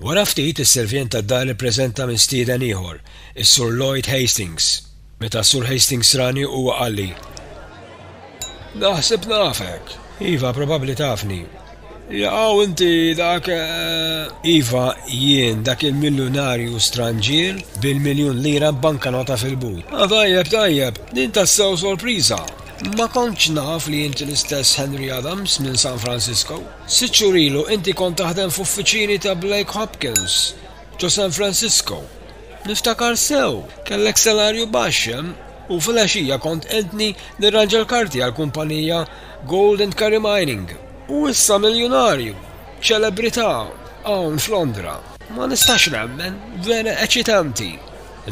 Wara ftit, is-sirvjent tad-dar ippreżenta mistieden ieħor, is-Sur Lloyd Hastings. Meta s-Sur Hastings rani, huwa qalli, Naħseb nafek. Iva, probabbli tafni. Jaqaw inti dak. Eh, iva, jien dak il-miljunarju stranġier bil-miljun lira b'bankanota fil-but. Ah, tajjeb, tajjeb, din tassew sorpriża. Ma kontx naf li inti l-istess Henry Adams minn San Francisco. Sitt xhur ilu inti kont taħdem f'uffiċini ta' Blake Hopkins, ġo San Francisco. Niftakar sew, kellek salarju baxx hemm u filgħaxija kont qegħdni nirranġa l-karti għall-kumpanija Gold and Curry Mining. U issa miljunarju, ċelebrità, hawn f'Londra. Ma nistax nemmen, vera eċitanti!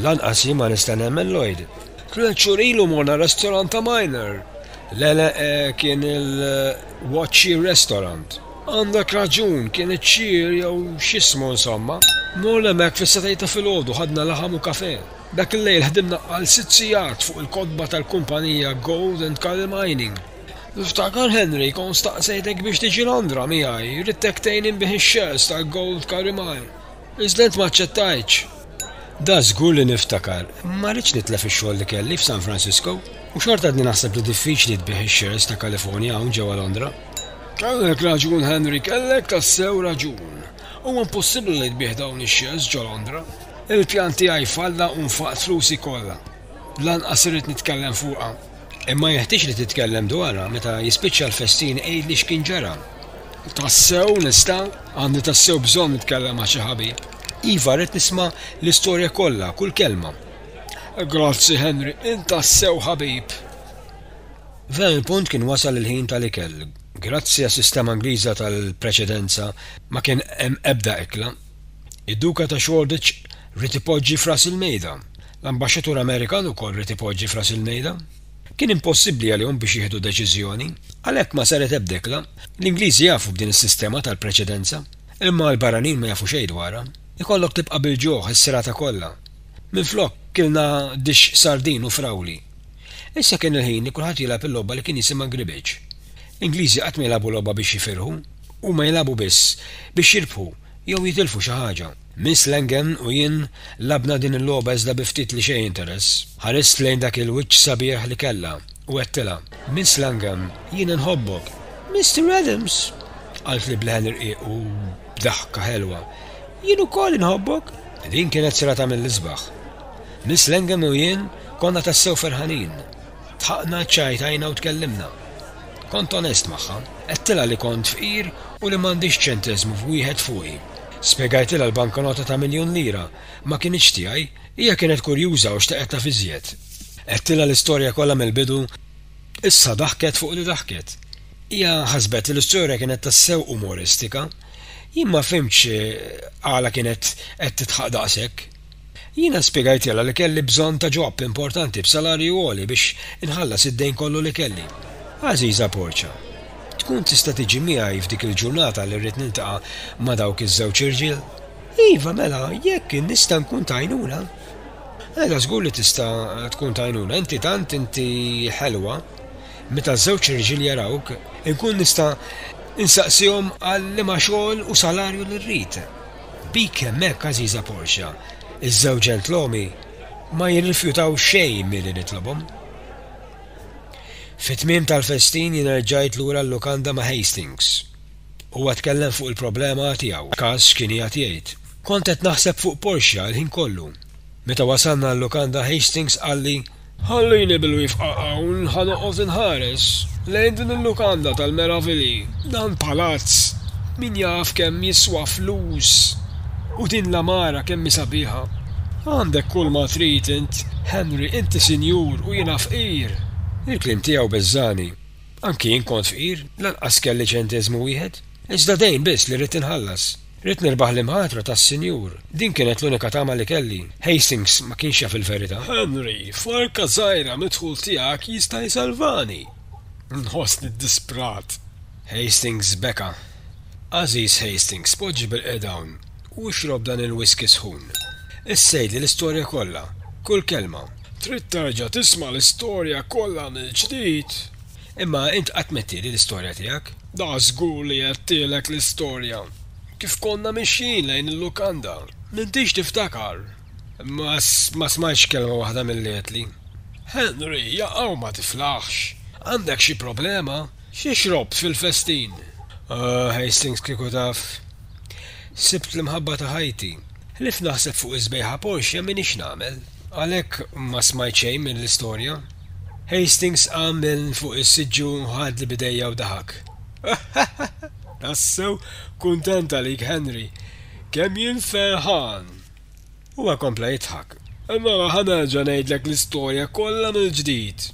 Lanqas jien ma nista' nemmen, Lloyd. Tliet xhur ilu morna restorant ta' Minor. Le, le, kien il. Watchie Restaurant. Għandek raġun, kien iċ-ċir jew x'jismu insomma. Mall hemmhekk fis-setgħet ta' filgħodu ħadna laħam u kafè. Dak il-lejl ħdimna għal sitt sigħat fuq il-kotba tal-kumpanija Gold and Curry Mining. Niftakar Henry kont staqsejtek biex tiġi Londra miegħi, ridtek tgħin inbigħ ix-shares tal-Gold Curry Mine. Iżda int ma aċċettajtx. Da żgur li niftakar. Ma ridtx nitlef ix-xogħol li kelli f'San Francisco. U xorta għadni naħseb li diffiċli tbigħ ix-shares ta' California hawn ġewwa Londra. Kellek raġun Henry, kellek tassew raġun. Huwa impossibbli li tbigħ dawn ix-shares ġo Londra. Il-pjan tiegħi falla u nfaqt flusi kollha. Lanqas irrid nitkellem fuqha. Imma jeħtieġ li titkellem dwarha. Meta jispiċċa l-festin għidli x'kien ġara. Tassew nista'? Għandi tassew bżonn nitkellem ma' xi ħabib. Iva, rrid nisma' l-istorja kollha, kull kelma. Grazzi, Henry, int tassew ħabib! F'dan il-punt kien wasal il-ħin tal-ikel. Grazzi għas-sistema Ingliża tal-preċedenza, ma kien hemm ebda ikla. Id-Duka ta' Shoreditch ried ipoġġi f'ras il-mejda. L-Ambaxxatur Amerikan ukoll ried ipoġġi f'ras il-mejda. Kien impossibbli għalihom biex jieħdu deċiżjoni, għalhekk ma saret ebda ikla. L-Ingliżi jafu b'din is-sistema tal-preċedenza, imma l-barranin ma jafu xejn dwarha. Ikollok tibqa' bil-ġuħ is-serata kollha. Minflok, kilna dixx sardin u frawli. Issa kien il-ħin li kulħadd jilgħab il-logħba li kien jisimha gribiċ. L-Ingliżi qatt ma jilagħbu logħba biex jifirħu, huma jilagħbu biss biex jirbħu jew jitilfu xi ħaġa. Miss Langen u jien lagħbna din il-logħba iżda bi ftit li xejn interess. Ħarist lejn dak il-wiċċ sabiħ li kellha u għedtilha, Miss Langen, jien inħobbok! Mister Adams! qaltli b'leħen irqiq u b'daħka ħelwa, jien ukoll inħobbok! Din kienet serata mill-isbaħ. Miss Langen u jien konna tassew ferħanin. Dħaqna, ċċajtajna u tkellimna. Kont onest magħha. Għedtilha li kont fqir u li m'għandix ċenteżmu f'wieħed fuqi. Spjegajtilha l-bankonota ta' miljun lira ma kinitx tiegħi. Hija kienet kurjuża u xtaqet taf iżjed. Għedtilha l-istorja kollha mill-bidu. Issa daħket fuq li daħket. Hija ħasbet li l-istorja kienet tassew umoristika. Jien ma fhimtx għala kienet qed tidħaq daqshekk. Jiena spjegajtilha li kelli bżonn ta' ġob importanti b'salarju għoli biex inħallas id-dejn kollu li kelli. Għażiża Portia, tkun tista' tiġi miegħi f'dik il-ġurnata li rrid niltaqa' ma' dawk iż-żewġ irġiel? Iva, mela, jekk nista' nkun ta' għajnuna. Mela, żgur li tista' tkun ta' għajnuna, inti tant inti ħelwa. Meta ż-żewġ irġiel jarawk, inkun nista' insaqsihom għal liema xogħol u salarju li rrid. Bik hemmhekk għażiża Portia, iż-żewġ ġentlommi ma jirrifjutaw xejn milli nitlobhom. Fit-tmiem tal-festin jiena rġajt lura l-lukanda ma' Hastings. Huwa tkellem fuq il-problema tiegħu, Cass kien qiegħed jgħid. Kont qed naħseb fuq Portia l-ħin kollu. Meta wasalna għal-lukanda Hastings qalli, Ħallini bil-wifqa hawn ħa noqgħod inħares lejn din il-lukanda tal-meravilji, dan palazz min jaf kemm jiswa flus u din l-għamara kemm hi sabiħa. Għandek kulma trid int Henry, inti sinjur u jiena fqir. Il-kliem tiegħu beżżagħni. Anki jien kont fqir, lanqas kelli ċenteżmu wieħed. Iżda dejn biss li ridt inħallas. Ridt nirbaħ l-imħatra tas-Sinjur. Din kienet l-unika tama li kelli. Hastings ma kienx jaf il-verità. Henry, forka żgħira mid-dħul tiegħek jista' jsalvani! Nħossni ddisprat! Hastings beka. Għażiż Hastings, poġġi bilqiegħed hawn, u xrob dan il-whiskey sħun. Issa għidli l-istorja kollha. Kull kelma. Trid terġa' tisma' l-istorja kollha mill-ġdid? Imma int qatt m'għedtieli l-istorja tiegħek. Dak żgur li għedtilek l-istorja kif konna mixjin lejn il-lukanda. M'intix tiftakar? Ma smajtx kelma waħda milli għedtli. Henry, jaqaw ma tiflaħx. Għandek xi problema? Xi xrobt fil-festin? Oh, Hastings kieku taf. Sibt l-imħabba ta' ħajti. Ħlief naħseb fuq is-sbejħa ponxja m'iniex nagħmel. Għalhekk ma smajt xejn mill-istorja. Hastings qam minn fuq is-siġġu, ħadli b'idejja u daħak. Tassew kuntent għalik, Henry. Kemm jien ferħan! Huwa kompla jidħak. Mela ħa nerġa' ngħidlek l-istorja kollha mill-ġdid.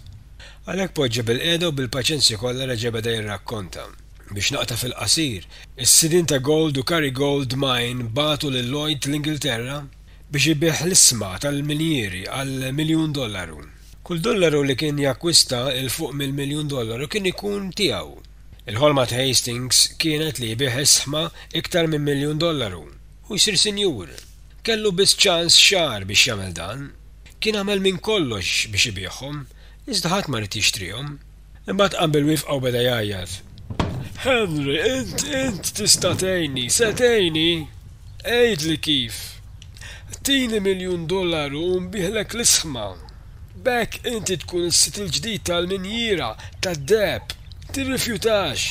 Għalhekk poġġa bilqiegħda u bil-paċenzja kollha reġa' beda jirrakkonta. Biex naqta' fil-qasir, is-sidien ta' Gold u Carry Gold Mine bagħtu lil Lloyd l-Ingilterra, biex ibigħ l-isma tal-minjieri għal miljun dollaru. Kull dollaru li kien jakkwista 'l fuq mill-miljun dollaru kien ikun tiegħu. Il-ħolma ta' Hastings kienet li jbigħ is-sma iktar minn miljun dollaru u jsir sinjur. Kellu biss ċans xahar biex jagħmel dan. Kien għamel minn kollox biex ibiegħhom, iżda ħadd ma ried jixtrihom. Imbagħad qam bil-wifqa u beda jgħajjat, Henry, int, int tista' tgħinni, se tgħinni? Għidli kif! Tini miljun dollaru u nbigħlek l-isħma! B'hekk inti tkun is-sid il-ġdid tal-minjiera tad-deheb! Tirrifjutax!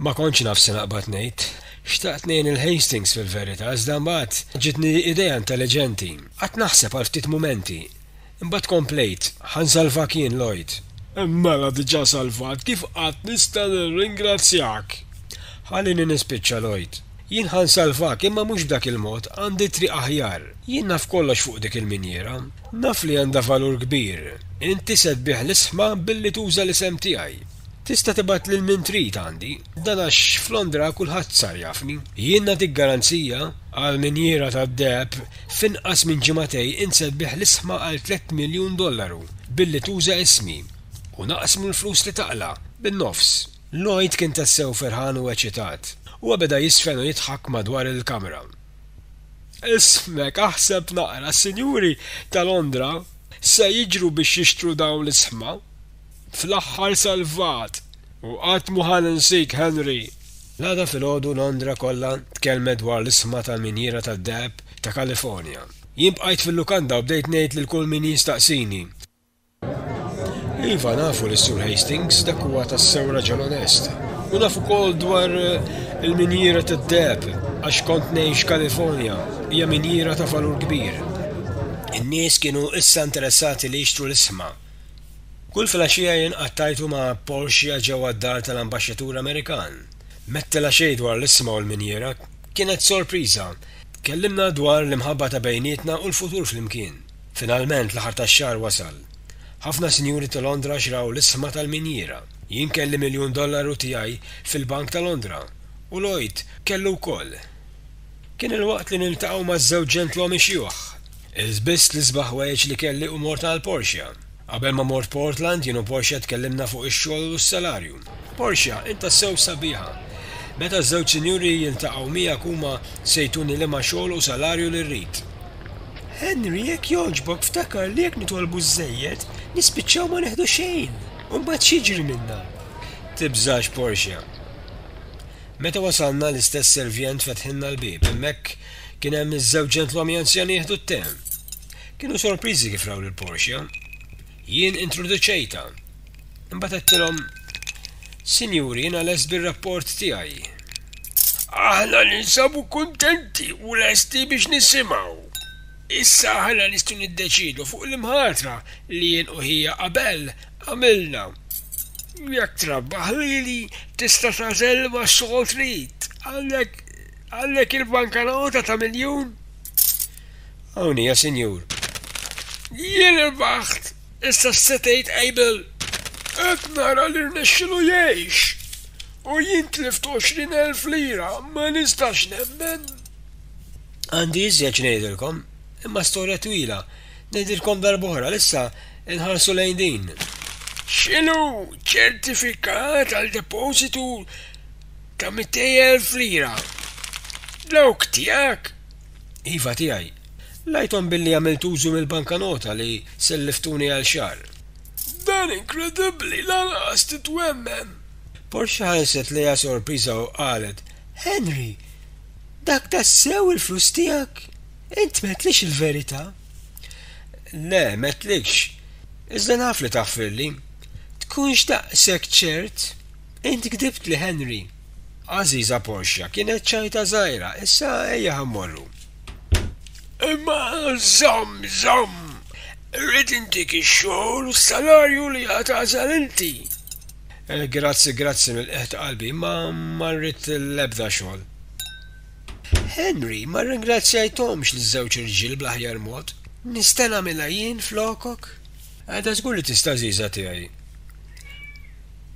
Ma kontx naf se naqbad ngħid. Xtaqt ngħin lil Hastings fil-verità, iżda mbagħad ġietni idea intelliġenti. Qgħadt naħseb għal ftit mumenti. Imbagħad komplejt, Ħa nsalvak jien, Lloyd. Mela diġà salvat, kif qatt nista' nirringrazzjak? Ħallini nispiċċa, Lloyd. Jien ħa nsalvak, imma mhux b'dak il-mod, għandi triq aħjar. Jien naf kollox fuq dik il-minjiera. Naf li għandha valur kbir. Inti se tbigħ l-isħma billi tuża l-isem tiegħi. Tista' tibgħat lil min trid għandi. Dan għax f'Londra kulħadd sar jafni. Jien nagħtik garanzija, għall-minjiera tad-deheb, F'inqas minn ġimagħtej int se tbigħ l-isħma għal tlett miljun dollaru billi tuża ismi u naqsmu l-flus li taqla' bin-nofs. Lloyd kien tassew ferħan u eċitat. Huwa beda jiżfen u jidħak madwar il-kamra. Ismek, aħseb naqra, s-sinjuri ta' Londra se jiġru biex jixtru dawn l-isħma. Fl-aħħar salvat! U qatt mhu ħa ninsik, Henry! L-għada filgħodu Londra kollha tkellmet dwar l-isma tal-minjiera tad-deheb ta' Kalifornja. Jien bqajt fil-lukanda u bdejt ngħid lil kull min jistaqsini. Iva, nafu lis-Sur Hastings, dak huwa tassew raġel onest. U naf ukoll dwar il-minjiera tad-deheb, għax kont ngħix Kalifornja, hija minjiera ta' valur kbir. In-nies kienu issa interessati li jixtru l-isma. Kull filgħaxija jien qattajtu ma' Portia ġewwa d-dar tal-Ambaxxatur Amerikan. M'għedtilha xejn dwar l-isma u l-minjiera, kienet sorpriża. Tkellimna dwar l-imħabba ta' bejnietna u l-futur flimkien. Finalment l-aħħar tax-xahar wasal. Ħafna sinjuri ta' Londra xraw l-isma tal-minjiera. Jien kelli miljun dollaru tiegħi fil-bank ta' Londra u Lloyd kellu wkoll. Kien il-waqt li niltaqgħu ma' żewġ ġentlommi xjuħ. Ilbist l-isbaħ wegħġ li kelli u mort għal Portia. Qabel ma mort Portland, jien u Portia tkellimna fuq ix-xogħol u s-salarju. Portia, int tassew sabiħa. Meta ż-żewġ sinjuri jiltaqgħu miegħek huma se jtuni liema xogħol u salarju li rrid. Henry, jekk jogħġbok ftakar li jekk nitolbu żżejjed, nispiċċaw ma nieħdu xejn. U mbagħad x'jiġri minna? Tibżax Portia. Meta wasalna, l-istess servjent fetħilna l-bieb. Hemmhekk kien hemm iż-żewġ ġentlommi anzjani jieħdu t-te. Kienu sorpriżi kif raw lil Portia. Jien introduċejtha. Imbagħad għedtilhom, Sinjuri, jiena lest bir-rapport tiegħi. Aħna ninsabu kuntenti u lesti biex nisimgħu. Issa aħna nistgħu niddeċiedu fuq l-imħatra li jien u ħija qabel għamilna. Jekk trabbaħ lili, tista' tagħżel liema xogħol trid. Għandek għandek il-bankanota ta' miljun? Hawn hija, sinjur. Jien irbaħt! Issa x'se tgħid Abel? Qed nara li rnexxielu jgħix! U jien tlift għoxrin elf lira, ma nistax nemmen! Għandi iżjed x'ngħidilkom. Imma storja twila. Ngħidilkom darb'oħra li issa nħarsu lejn din. X'inhu ċertifikat għal depożitu ta' 200,000 lira? Dawk tiegħek? Iva tiegħi. Ngħidhom billi għamilt użu mill-bankanota li selliftuni għal xahar. Dan inkredibbli, lanqas titwemmen! Portia ħarset lejha sorpriża u qalet, Henry! Dak tassew il-flus tiegħek? Int m'għedtlix il-verità. Le, m'għedtlikx. Iżda naf li taħfirli. Tkunx daqshekk ċert? Int gdibtli, Henry. Għażiża Portia kienet ċajta żgħira, issa ejja ħa mmorru. Imma żomm, żomm! Irrid intik ix-xogħol u s-salarju li għad tagħżel inti. Grazzi, grazzi mill-qegħ ta' qalbi, imma ma rrid l-ebda xogħol. Henry, Ma rringrazzjajthomx liż-żewġ irġiel bl-aħjar mod. Nista' nagħmilha jien flokok? Għada żgur li tista' għażiża tiegħi.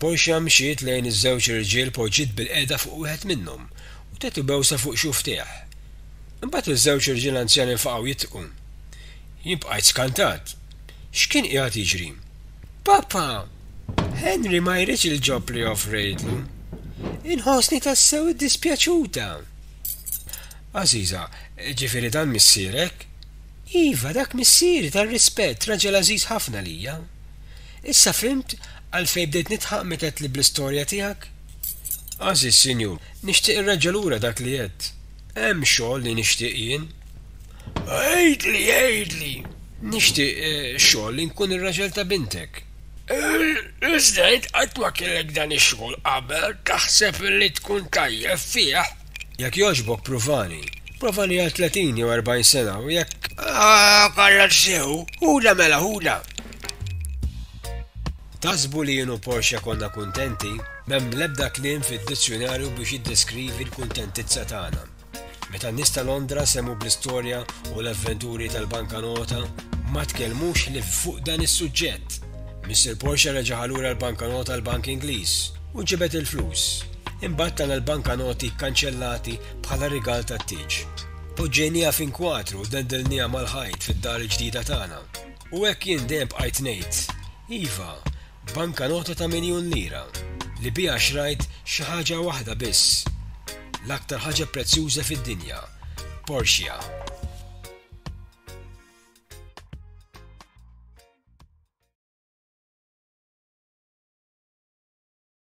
Portia mxiet lejn iż-żewġ irġiel poġġiet bilqiegħda fuq wieħed minnhom u tagħtu bewsa fuq xufftejh. Imbagħad iż-żewġ irġiel anzjani nfaqgħu jidħku. Jien bqajt skantat. X'kien qiegħed jiġri? Papa, Henry ma jridx il-ġob li offrejtlu. Inħossni tassew iddispjaċuta. Għażiża, Ġifieri dan missierek? Iva, dak missieri tar-rispett, raġel għażiż ħafna għalija. Issa fhimt għalfejn bdejt nidħaq meta għedtli bl-istorja tiegħek? Għażiż sinjur, nixtieq irreġġa' lura dak li għedt. Hemm xogħol li nixtieq jien. Għidli, għidli! Nixtieq xogħol li nkun ir-raġel ta' bintek. Il-President qatt ma kellek dan ix-xogħol qabel, taħseb li tkun tajjeb fih? Jekk jogħġbok pruvani. Provani għal tletin jew erbgħin sena u jekk. Għarraf sew. Ħudha mela, ħudha! Taħsbu li jien u Portia konna kuntenti? M'hemm l-ebda kliem fid-dizzjunarju biex jiddeskrivi l-kuntentizza tagħna. Meta n-nies ta' Londra semgħu bl-istorja u l-avventuri tal-bankanota, ma tkellmux ħlief fuq dan is-suġġett. Missier Portia reġagħha lura l-bankanota għall-bank Ingliż u ġibed il-flus. Imbagħad tana l-bankanoti kkanċellati bħala rigal tat-tieġ. Poġġejnieha f'inkwatru u dendilnieha mal-ħajt fid-dar il-ġdida tagħna. U hekk jien dejjem bqajt ngħid, iva, bankanota ta' miljun lira, li biha xrajt xi ħaġa waħda biss, l-aktar ħaġa prezzjuża fid-dinja, Porsche.